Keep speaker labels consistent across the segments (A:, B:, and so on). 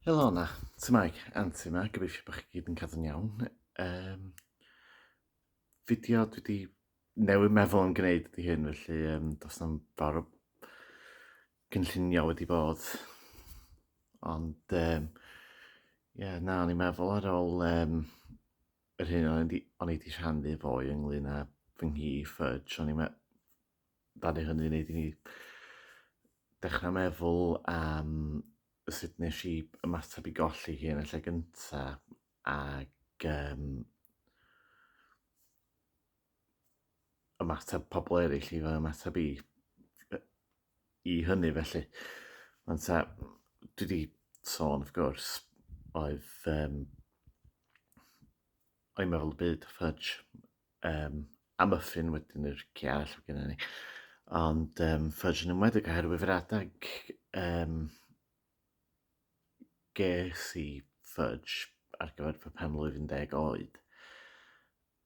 A: Helo 'na, Tamaig, Anti yma, gobeithio bod chi gyd yn cadw'n iawn. Um, fideo dwi wedi newid meddwl yn gwneud ydy hyn, felly um, does na'm fawr o gynllunio wedi bod. Ond, um, yeah, na, o'n i'n meddwl ar ôl um, yr hyn o'n i wedi rhannu fo i ynglyn â fy nghi Fudge, o'n i'n Mae hynny yn gwneud i ni dechrau meddwl am sut nes i ymateb i golli hi yn y lle gyntaf ac um, ymateb pobl eraill i fy ymateb i, i hynny felly. Mae'n ta, dwi wedi sôn, wrth gwrs, oedd um, o'i meddwl byd, fudge, um, a muffin wedyn i'r ci arall oedd gennym ni. Ond um, fudge yn ymwedig oherwydd yr adeg um, ges i fudge ar gyfer fy penblwydd 10 oed.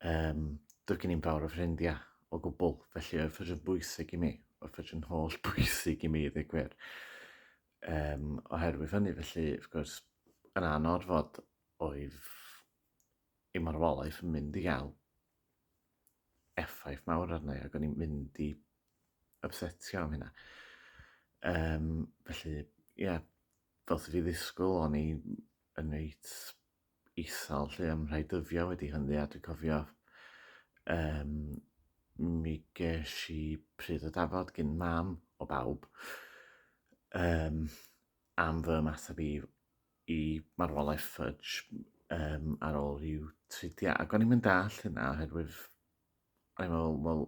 A: Um, Doedd gen i'n fawr o ffrindiau o gwbl, felly oedd fudge yn bwysig i mi. Oedd fudge yn holl bwysig i mi, ddweud gwir. Um, oherwydd hynny, felly, wrth gwrs, yn anorfod, oedd ei marwolaeth yn mynd i gael effaith mawr arna i ac o'n i'n mynd i upsetio am hynna. Um, felly, ie, yeah, fel sydd fi ddisgwyl, o'n i yn reit isal lle am rhai dyddiau wedi hynny a dwi'n cofio um, mi ges i pryd o dafod gyn mam o bawb um, am fy ymateb i i marwolaeth Fudge um, ar ôl rhyw tridiau. Ac o'n i'n mynd all hynna oherwydd o'n i'n meddwl, wel,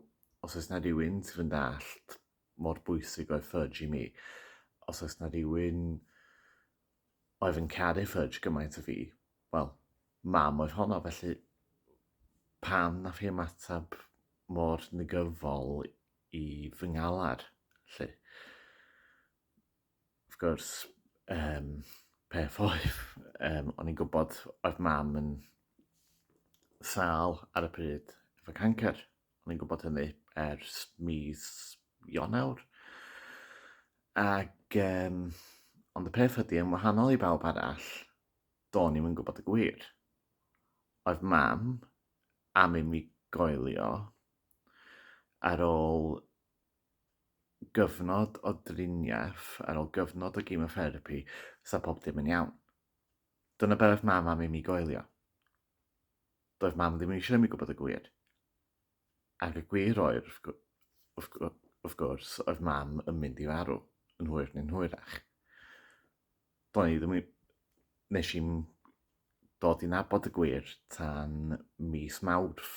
A: os oes na rhywun sydd yn dallt mor bwysig oedd Fudge i mi, os oes na rhywun oedd yn caru Fudge gymaint o fi, wel, mam oedd honno, felly pam na fi ymateb mor negyfol i fy ngalar, lle? Wrth gwrs, um, peth oedd, um, o'n i'n gwybod oedd mam yn sal ar y pryd efo cancer. O'n i'n gwybod hynny ers mis Ionawr. Ac, um, ond y peth ydy, yn wahanol i bawb arall, do'n i'n gwybod y gwir. Oedd mam am i mi goelio ar ôl gyfnod o driniaeth, ar ôl gyfnod o gemotherapi, sa pob dim yn iawn. Dyna be oedd mam am i mi goelio. Doedd mam ddim eisiau mi gwybod y gwir. Ac y gwir oedd, wrth, wrth gwrs, oedd mam yn mynd i farw, yn hwyr neu'n hwyrach. Do'n i ddim... Nes i'n dod i nabod y gwir tan mis Mawrth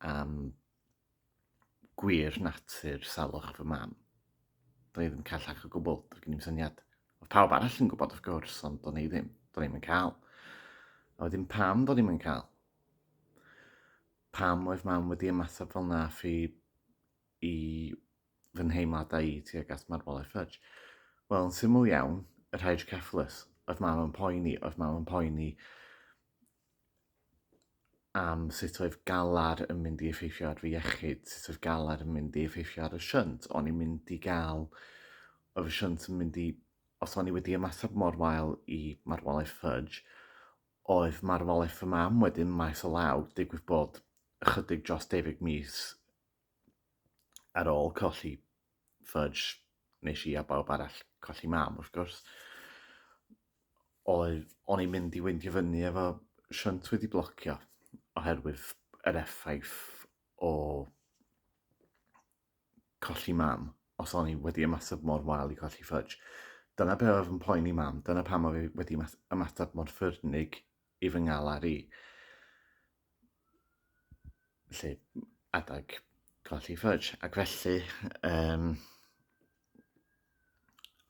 A: am gwir natur salwch fy mam. Do'n i ddim callach o gwbl, doedd gen i'n syniad. Oedd pawb arall yn gwybod, of gwrs, ond do'n i ddim. Do'n i'n cael. A wedyn pam do'n i'n cael? Pam oedd mam wedi ymateb fel na fi i fy nheimladau i tuag at marwolaeth Fudge? Wel, yn syml iawn, yr hydrocephalus. Oedd mam yn poeni, oedd mam yn poeni am sut oedd galar yn mynd i effeithio ar fy iechyd, sut oedd galar yn mynd i effeithio ar y shunt. O'n i'n mynd i gael, oedd y shunt yn mynd i, os o'n i wedi ymateb mor wael i marwolaeth Fudge, oedd marwolaeth fy mam wedyn maes o law, digwydd bod ychydig dros deufig mis ar ôl colli fudge nes i a bawb arall colli mam wrth gwrs. Oedd o'n i'n mynd i weindio fyny efo shunt wedi blocio oherwydd yr effaith o colli mam os o'n i wedi ymateb mor wael i colli fudge. Dyna be oedd yn poeni mam, dyna pam oedd wedi ymateb mor ffyrnig i fy ngalar i. Felly, adeg golli fudge. Ac felly, um,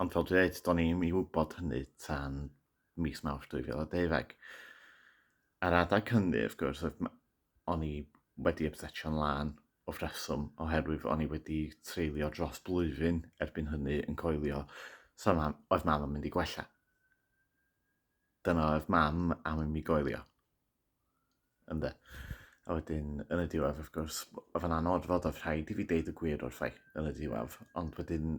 A: ond fel dwi'n dweud, do'n i'n i wybod hynny tan mis mawrth 2012. Ar adeg hynny, wrth gwrs, o'n i wedi ymsetio'n lân o ffreswm, oherwydd o'n i wedi treulio dros blwyddyn erbyn hynny yn coelio, so oedd mam yn mynd i gwella. Dyna oedd mam am i mi goelio. Ynde. A wedyn, yn y diwedd, wrth gwrs, oedd yn anodd fod oedd rhaid i fi deud y gwir wrthai yn y diwedd. Ond wedyn,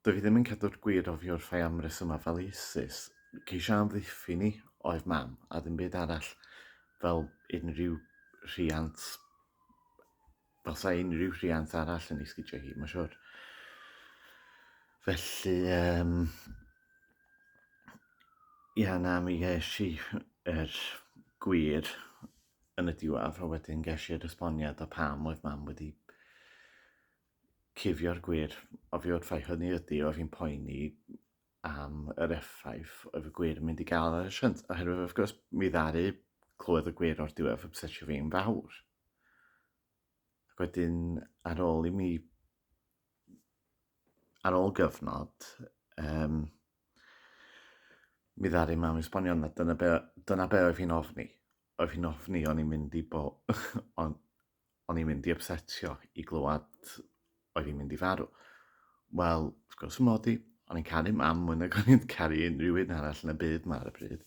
A: dwi ddim yn cadw'r gwir o fi wrthai am resymau fel ISIS. Ceisio amddiffyn i oedd mam, a ddim byd arall fel unrhyw rhiant Fel sa unrhyw rhiant arall yn ei sgidio hi, mae'n siwr. Felly, um, ia, na, mi ges i er gwir yn y diwedd, a wedyn ges i'r esboniad o pam oedd mam wedi cifio'r gwir o fi wrth fai hynny ydy o fi'n poeni am yr effaith oedd y gwir yn mynd i gael ar y siant, oherwydd wrth gwrs mi ddaru clywed y gwir o'r diwedd obsesio fi'n fawr. Ac wedyn ar ôl i mi ar ôl gyfnod um, mi ddaru mam esbonio na dyna be, dyna be oedd hi'n ofni. Oedd hi'n ofni o'n i'n mynd i bo, on, o'n i'n mynd i upsetio i glywed oedd hi'n mynd i farw. Wel, wrth gwrs yn modi, o'n i'n caru mam mwy nag o'n i'n caru unrhyw un arall yn y byd ma ar y bryd.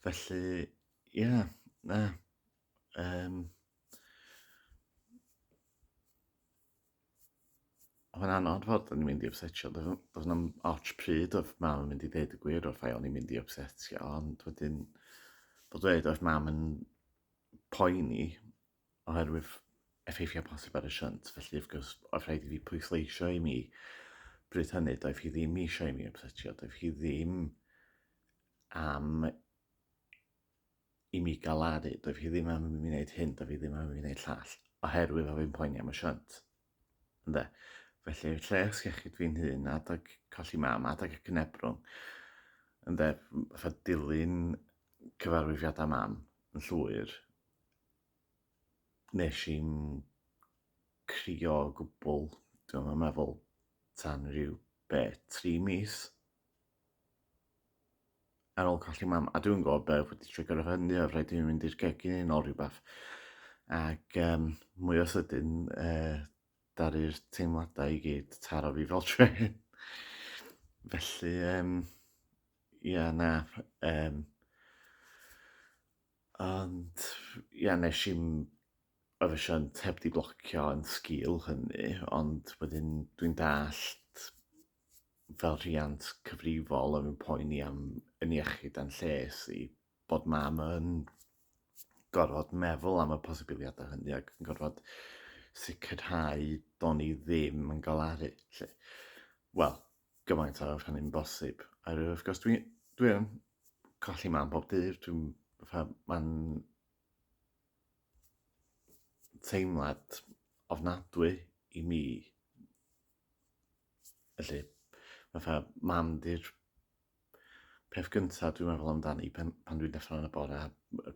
A: Felly, ie, yeah, na. Um, Mae'n anodd fod yn mynd i upsetio. Doedd na'm ots pryd oedd mam yn mynd i ddeud y gwir wrth o'n i'n mynd i upsetio, ond wedyn bod dweud oedd mam yn poeni oherwydd effeithiau posib ar y shunt, felly wrth gwrs oedd rhaid i fi pwysleisio i mi bryd hynny, doedd hi ddim eisiau i mi ymsetio, doedd hi ddim am i mi galaru, doedd hi ddim am i mi wneud hyn, doedd hi ddim am i mi wneud llall, oherwydd oedd fi'n poeni am y shunt. Ynde? Felly, lles iechyd fi'n hun, adag colli mam, adag y cynebrwng, ynde, fatha dilyn cyfarwyddiadau mam yn llwyr, wnes i'm crio o gwbl, dwi'm yn meddwl, tan ryw, be, tri mis ar ôl colli mam, a dwi'n gwybod be wedi trigger o hynny, oedd rhaid i mi mynd i'r gegin yn ôl rhywbeth, ac um, mwy o sydyn, uh, daru'r teimladau i gyd taro fi fel tren. Felly, um, ia, na, um, Ond ia, wnes i'm ofisiant heb 'di blocio yn sgil hynny, ond wedyn dwi'n dallt fel rhiant cyfrifol oedd yn poeni am yn iechyd a'n lles i, bod mam yn gorfod meddwl am y posibiliadau hynny ac yn gorfod sicrhau do'n i ddim yn galaru 'lly. Wel, gymaint â oedd hynny'n bosib. Oherwydd wrth gwrs dwi dwi yn. colli mam pob dydd, dwi'n fatha, mae'n teimlad ofnadwy i mi. Felly, fatha, mam di'r peth gyntaf dwi'n meddwl amdani pan, pan dwi'n dechrau yn y bore, a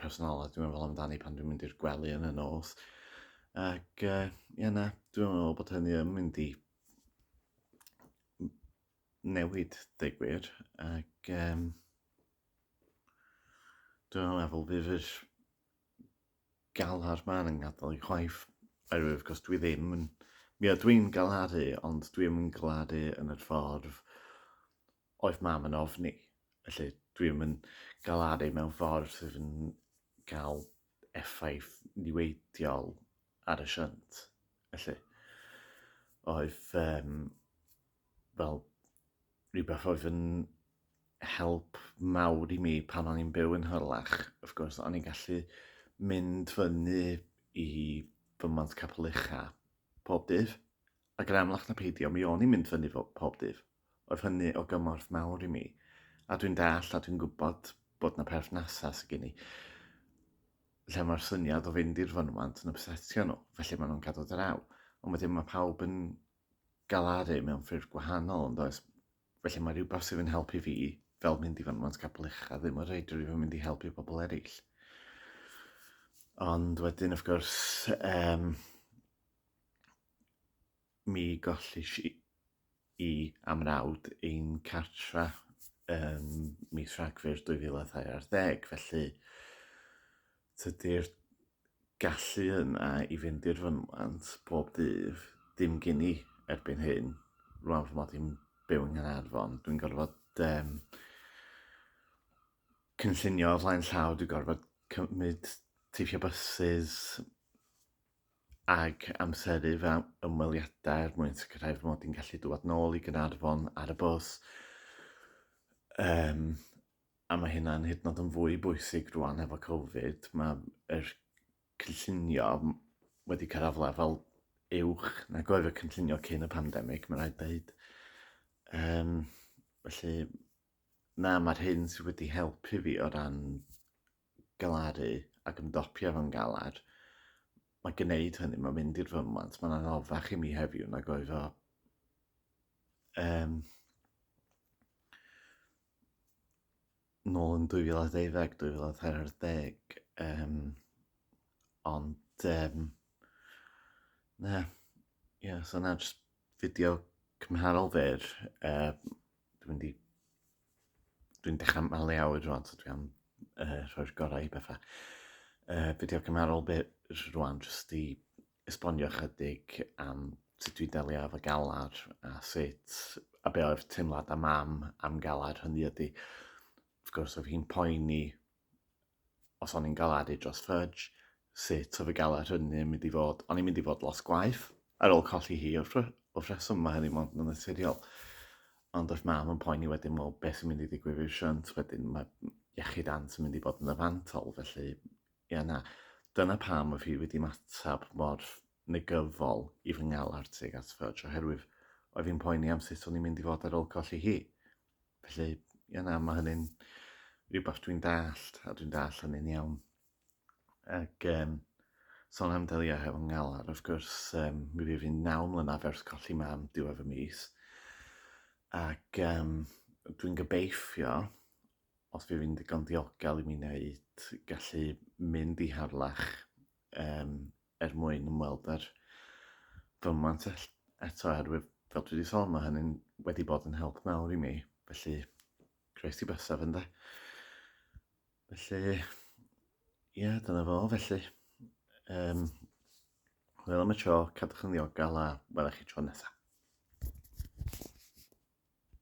A: personolaeth dwi'n meddwl amdani pan dwi'n mynd i'r gwely yn y nos. Ac uh, ie na, dwi'n meddwl bod hynny yn mynd i newid, dweud gwir, ac um, dwi'n meddwl bydd yr galar ma'n yn gadael i chwaith, oherwydd cos dwi ddim yn... Mi o dwi'n galaru, ond dwi'n yn galaru yn yr ffordd oedd mam yn ofni. Felly dwi'n yn galaru mewn ffordd sydd yn cael effaith niweidiol ar y shunt. Felly, oedd um, fel rhywbeth oedd yn help mawr i mi pan o'n i'n byw yn hyrlach. Of gwrs, o'n i'n gallu mynd fyny i fy mant capel ucha pob dydd. Ac yn amlach na peidio, mi o'n i'n mynd fyny pob dydd. Oedd hynny o gymorth mawr i mi. A dwi'n deall a dwi'n gwybod bod na perthnasau sydd gen i lle mae'r syniad o fynd i'r fynwant yn obsetio nhw, felly maen nhw'n cadw draw. Ond wedyn mae pawb yn galaru mewn ffyrdd gwahanol, ond oes? Felly mae rhywbeth sydd yn helpu fi, fel mynd i fynwant capel ucha, ddim yn rhaid rhywbeth mynd i helpu pobl eraill. Ond wedyn, of gwrs, um, Mi gollish i a mrawd ein cartra ym mis Rhagfyr 2022, felly tydi'r gallu yna i fynd i'r fynwent bob dydd dim gen i erbyn hyn. Rwan fy mod i'n byw yng Nghaernarfon, dwi'n gorfod um, cynllunio o flaen llaw, dwi'n gorfod cymryd teithio byses, ac amseru fy ymweliadau er mwyn sicrhau fy mod i'n gallu dŵad nôl i Gaernarfon ar y bws. Um, a mae hynna'n hyd yn oed yn fwy bwysig rwan efo Covid. Mae'r er cynllunio wedi cyrraedd lefel uwch na goedd y cynllunio cyn y pandemig, mae'n rhaid dweud. Um, felly, na, mae'r hyn sydd wedi helpu fi o ran galaru ac ymdopi efo'n galar, mae gwneud hynny, mae'n mynd i'r fymwant, mae'n anoddach i mi heddiw nag oedd o um, nôl yn 2012, 2014, um, ond um, na, ie, yeah, so na, jyst fideo cymharol fer, uh, dwi'n mynd i Dwi'n dechrau malu awyr rwan, so dwi am uh, rhoi'r gorau i bethau. Uh, fideo cymharol bit rwan, jyst i esbonio chydig am sut dwi'n delio efo galar a sut a be oedd teimlad a mam am galar hynny ydy. Wrth gwrs, oedd hi'n poeni Os o'n i'n galadu dros Fudge, sut oedd y galed hynny yn mynd i fod? O'n i'n mynd i fod lot gwaeth ar ôl colli hi wrth, wrth reswm mae hynny mond yn naturiol. Ond oedd mam yn poeni wedyn, wel, beth sy'n mynd i ddigwydd i'r siant wedyn? Mae iechyd ant yn mynd i fod yn y fantol, felly, ia na. Dyna pam oedd hi wedi matab mor negyfol i fy ngal artig at Fudge, oherwydd oedd hi'n poeni am sut o'n i'n mynd i fod ar ôl colli hi. Felly, ie na, mae hynny'n rhywbeth dwi'n dallt, a dwi'n dallt hynny'n iawn. Ac um, son am delio hefo ngalar, wrth gwrs, um, mi fydd fi'n naw mlynedd ers colli mam diwedd y mis. Ac um, dwi'n gobeithio, os fi fi'n ddigon diogel i mi wneud, gallu mynd i harlach um, er mwyn ymweld â'r fymant eto oherwydd fel dwi wedi sôn mae hynny'n wedi bod yn help mawr i mi felly croes i bysaf ynde felly ie yeah, dyna fo felly um, wel am y tro cadwch yn ddiogel a welwch chi tro nesaf